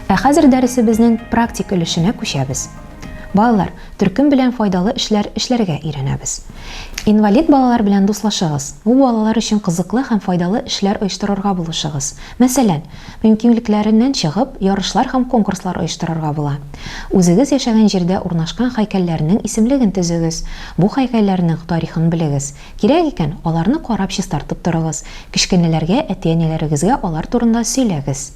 Ә хәзер дәресебезнең практик өлешенә күчәбез. Балалар, төркем белән файдалы эшләр эшләргә өйрәнәбез. Инвалид балалар белән дуслашыгыз. Бу балалар өчен кызыклы һәм файдалы эшләр оештырырга булышыгыз. Мәсәлән, Мөмкинлекләреннән чыгып, ярышлар һәм конкурслар оештырырга була. Үзегез яшәгән җирдә урнашкан һәйкәлләрнең исемлеген төзегез, бу һәйкәлләрнең тарихын белегез. Кирәк икән, аларны карап чистартып торыгыз, кечкенәләргә, әти-әниләрегезгә алар турында сөйләгез.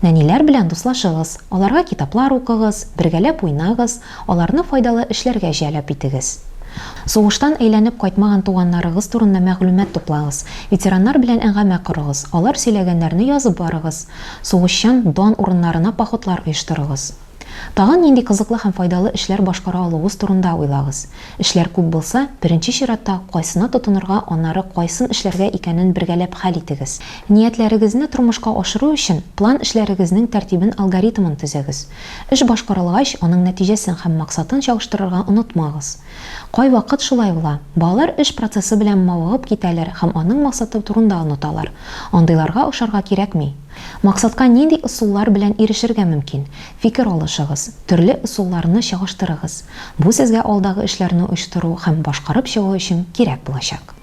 Нәниләр белән дуслашыгыз, аларга китаплар укыгыз, бергәләп уйнагыз, Аларны файдалы эшләргә җәлеп итегез. Сугыштан әйләнеп кайтмаган туганнарыгыз турында мәгълүмат туплагыз. Ветераннар белән әңгәмә корыгыз, алар сөйләгәннәрне язып барыгыз. Сугышчан дан урыннарына походлар оештырыгыз. Тагын нинди кызыклы һәм файдалы эшләр башкара алуыгыз турында уйлагыз. Эшләр күп булса, беренче чиратта кайсына тотынырга, аннары кайсын эшләргә икәнен бергәләп хәл итегез. Ниятләрегезне тормышка ашыру өчен план эшләрегезнең тәртибен-алгоритмын төзегез. Эш башкарылгач, аның нәтиҗәсен һәм максатын чагыштырырга онытмагыз. Кайвакыт шулай була, балалар эш процессы белән мавыгып китәләр һәм аның максаты турында оныталар. Андыйларга ошарга кирәкми. Максатка нинди ысуллар белән ирешергә мөмкин? Фикер алышыгыз, төрле ысулларны чагыштырыгыз. Бу сезгә алдагы эшләрне оештыру һәм башкарып чыгу өчен кирәк булачак.